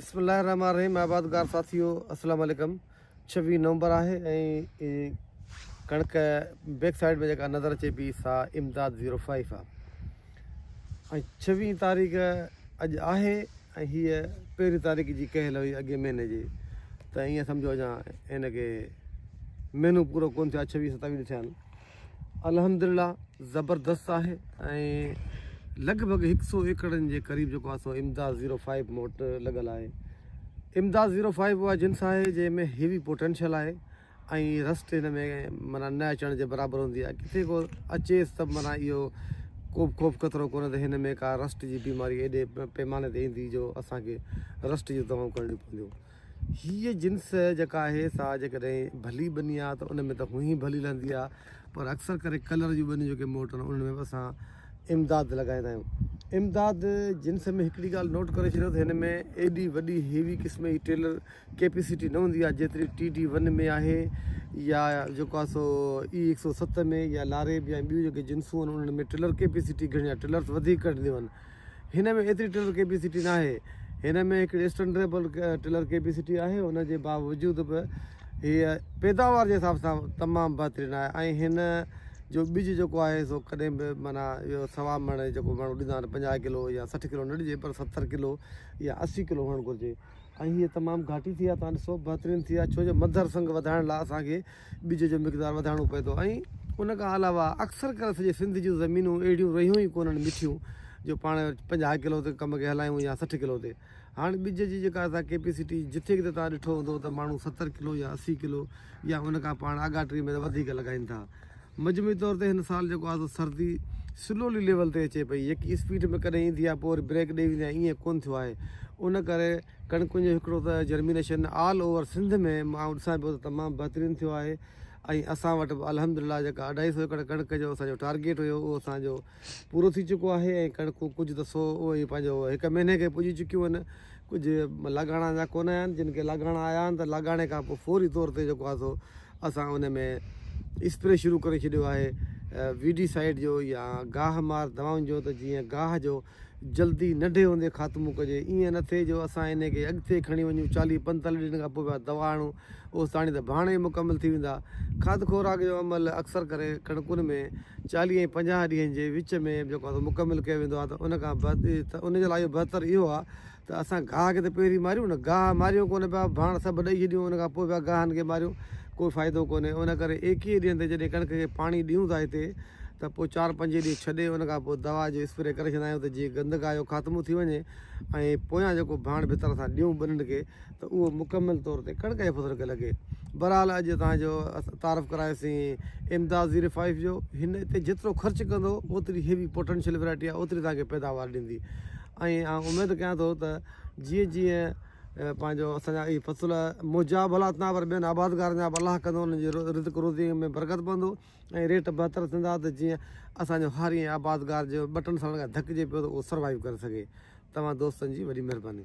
بسم الله الرحمٰن الرحيم آبادگار ساٿيو السلام عليڪم ڇويهه نومبر آهي ۽ ڪڻڪ بيڪ سائيڊ ۾ جيڪا نظر اچي پي سا امداد زيرو فائيف آهي ۽ ڇويهه تاريخ اڄ آهي ۽ هيء پهرين تاريخ جي ڪهل هئي اڳي مهيني جي ته ائين سمجهو اڃا هن کي مهينو پورو ڪون ٿيو آهي ڇويهه ستاويهه ٿيا آهن الحمدلله زبردست آهي ۽ لڳ ڀڳ هڪ سو ايڪڙن جي قريب جيڪو آهي سو امداد زيرو فائيو مون وٽ لڳل آهي امداد زيرو فائيو اها جنس آهي جنهن ۾ هيوي پوٽينشل آهي ۽ رسٽ هن ۾ مانا نه اچڻ جي برابر هوندي آهي ڪٿي کو اچيس ته مانا اهو کو بि خوف خطرو ڪونهي ته هن ۾ ڪا رسٽ جي بيماري ايڏي پيماني تي ايندي جو اسانکي رسٽ جون دوائون ڪرڻيون پونديون هيء جنس جيڪا آهي سا جيڪڏهن ڀلي ٻني آهي ته ان ۾ ته هونئن ئي ڀلي لهندي آهي پر اڪثر ڪري ڪلر جون ٻنيون جيڪي موٽون آهن انهن ۾ به اسان امداد لڳائيندا آهيون. امداد جنس ۾ هڪڙي ڳالهه نوٽ ڪري ڇڏيو ته هن ۾ ايڏي وڏي هيوي قسم جي ٽيلر ڪيپيسٽي نه هوندي آهي جيتري ٽي ڊي ون ۾ آهي يا جيڪو آهي سو اي هڪ سؤ ست ۾ يا لاريب يا ٻيون جيڪي جنسون آهن انهن ۾ ٽيلر ڪيپيسٽي گهڻي آهي ٽيلرس وڌيڪ ڪڍنديون آهن هن ۾ ايتري ٽلر ڪيپيسٽي ناهي، هن ۾ هڪڙي اسٽنڊريبل ٽلر ڪيپيسٽي آهي، ان جي باوجود به هيء پيداوار جي حساب سان تمام بهترين آهي ۽ هن جو ٻج جيڪو آهي سو ڪڏهن به معنيٰ اهو سوا مڻ جيڪو ماڻهو ڏيندا آهن پنجاهه ڪلو يا سٺ ڪلو نه ڏجي پر ستر ڪلو يا اسي ڪلو هئڻ گهرجي ۽ هيء تمام گهاٽي ٿي آهي تان ڏسو بهترين ٿي آهي ڇو جو مڌر سنگ وڌائڻ لاء اسان کي ٻج جو مقدار وڌائڻو پئي ٿو ۽ ان کان علاوه اڪثر ڪري سڄي سنڌ جون زمينون اهڙيون رهيون ئي ڪونهن مٺيون جو پاڻ پنجاهه ڪلو تي ڪم کي هلايون يا سٺ ڪلو تي هاڻ ٻج جي جيڪا اسان ڪيپيسٽي جٿي ڪٿي تان ڏٺو هوندو ته ماڻهو ستر ڪلو يا اسي ڪلو يا ان کان پاڻ آگاهه ٽري ۾ ته وڌيڪ لڳائين ٿا مجموعي طور تي هن سال جيڪو آهي سردي سلولي ليول تي اچي پئي يڪي اسپيڊ ۾ ڪڏهن ايندي آهي پوء وري بريڪ ڏئي ويندي آهي ائين ڪونهن ٿيو آهي ان ڪري ڪڻڪن جو هڪڙو ته جرمينيشن آل اوور سنڌ ۾ مان ڏسان پيو ته تمام بهترين ٿيو آهي ۽ اسان وٽ به الحمد لله جيڪا اڍائي سو ايڪڙ ڪڻڪ جو اسان جو ٽارگيٽ هيو اهو اسان جو پورو ٿي چڪو آهي ۽ ڪڻڪون ڪجهه ته سو اهي ئي پنهنجو هڪ مهيني کي پڄي چڪيون آهن ڪجهه لاڳاڻا اڃا ڪونه آيا آهن جن کي لاڳاڻا آيا آهن ته لاڳاڻي کان پوء فوري طور تي جيڪو آهي سو اسان ان ۾ اسپري شروع ڪري ڇڏيو آهي ويڊي سائيڊ جو يا گاهه مار دوائن جو ته جيئن گاهه جو جلدي ننڍي هوندي خاتمو ڪجي ايئن نه ٿئي جو اسان انهي کي اڳتي کڻي وڃون چاليهه پنجتاليهه ڏينهن کان پوء پيا دوا آڻون اوستاڻي ته ڀاڻ ئي مڪمل ٿي ويندا کاڌ خوراڪ جو عمل اڪثر ڪري ڪڻڪن ۾ چاليهه ۽ پنجاهه ڏينهن جي وچ ۾ جيڪو آهي سو مڪمل ڪيو ويندو آهي ته ان کان ته ان جي لاء بهتر اهو آهي ته اسان گاهه کي ته پهرين ماريون نه، گاهه ماريو ڪونه پيا، ڀاڻ سڀ ڏئي ڇڏيون، ان کان پوء پيا گاهن کي ماريون، ڪو فائدو ڪونهي، ان ڪري ايڪيهه ڏينهن تي جڏهن ڪڻڪ کي پاڻي ڏيون ٿا هتي ته پوء چار پنج ڏينهن ڇڏي ان کان پوء دوا جو اسپري ڪري ڇڏيندا آهيون ته جيئن گند گاهه جو خاتمو ٿي وڃي ۽ پويان جيڪو ڀاڻ ڀتر اسان ڏيون ٻنين کي ته اهو مڪمل طور تي ڪڻڪ جي فصل کي لڳي. بهرحال اڄ توهان جو تعارف ڪرايوسين امداد زيرو فائيو جو، هن تي جيترو خرچ ڪندو اوتري هيوي پوٽينشل ويرائٽي آهي اوتري توهان کي پيداوار ڏيندي. ائين آئون اميد ڪيان ٿو ته جيئن جيئن پنهنجو اسان جا اهي فصل منهنجا ڀلا ٿيندا پر ٻين آبادگارن جا به الله ڪندو انهن جي رزق روزي ۾ برڪت پوندو ۽ ريٽ بهتر ٿيندا ته جيئن اسانجو هر اهي آبادگار جو ٻه ٽن سالن کان ڌڪجي پيو ته اهو سروائيو ڪري سگهي توهان دوستن جي وڏي مهرباني